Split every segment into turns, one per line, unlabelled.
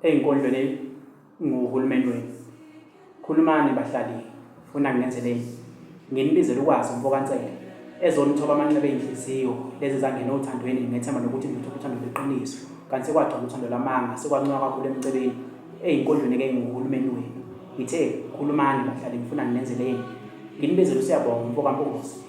eyinkondlweni nguhulumeni wenu khulumani bahlali funa nginenzeleni nginibizele ukwazi umfokansele ezonithoba amanxeba ey'nhliziyo lezi zangena othandweni ngethemba lokuthi ngithotha uthando lweqiniso kanti sekwagcona uthando lwamanga sekwancoka kakhulu emcebeni ey'nkondlweni ke nguhulumeni wenu ngithe khulumani bahlali ngifuna nginenzeleni nginibizele usiyabonga umfokampunguzi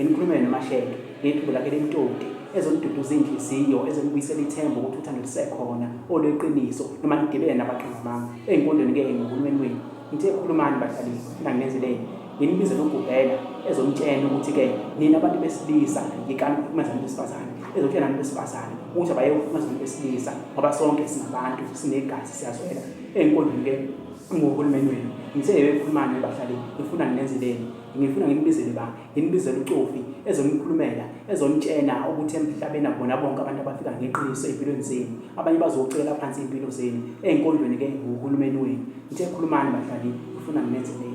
Ngikhuluma yena Mashenge ngephimbo lakhe lemtoti ezoniduduza inhliziyo ezonibuyisela ithemba ukuthi uthando lusekhona olweqiniso noma nigibele nabaqhaza bami ezinkondweni ke ngohulumeni wenu ngithe khulumani bahlali funa nginenzeleni nginibize nokugubhela ezomtshena ukuthi ke nina abantu besilisa yikani ukuhlukumeza abantu besifazane ezotshela abantu besifazane ukuthi abaye ukuhlukumeza abantu besilisa ngoba sonke singabantu sinegazi siyazwela ezinkondweni ke ngohulumeni wenu ngithe yebekhulumani bahlali ngifuna nginenzeleni Ngifuna nginibizele ba, nginibizele uCofi ezonikhulumela, ezonitshena ukuthi emhlabeni akubona bonke abantu abafika ngeqiniso ezimpilweni zenu. Abanye bazocela phansi impilo zenu ezinkondweni ke nguhulumeni wenu. Ngithe khulumani badlali, ngifuna nginenzele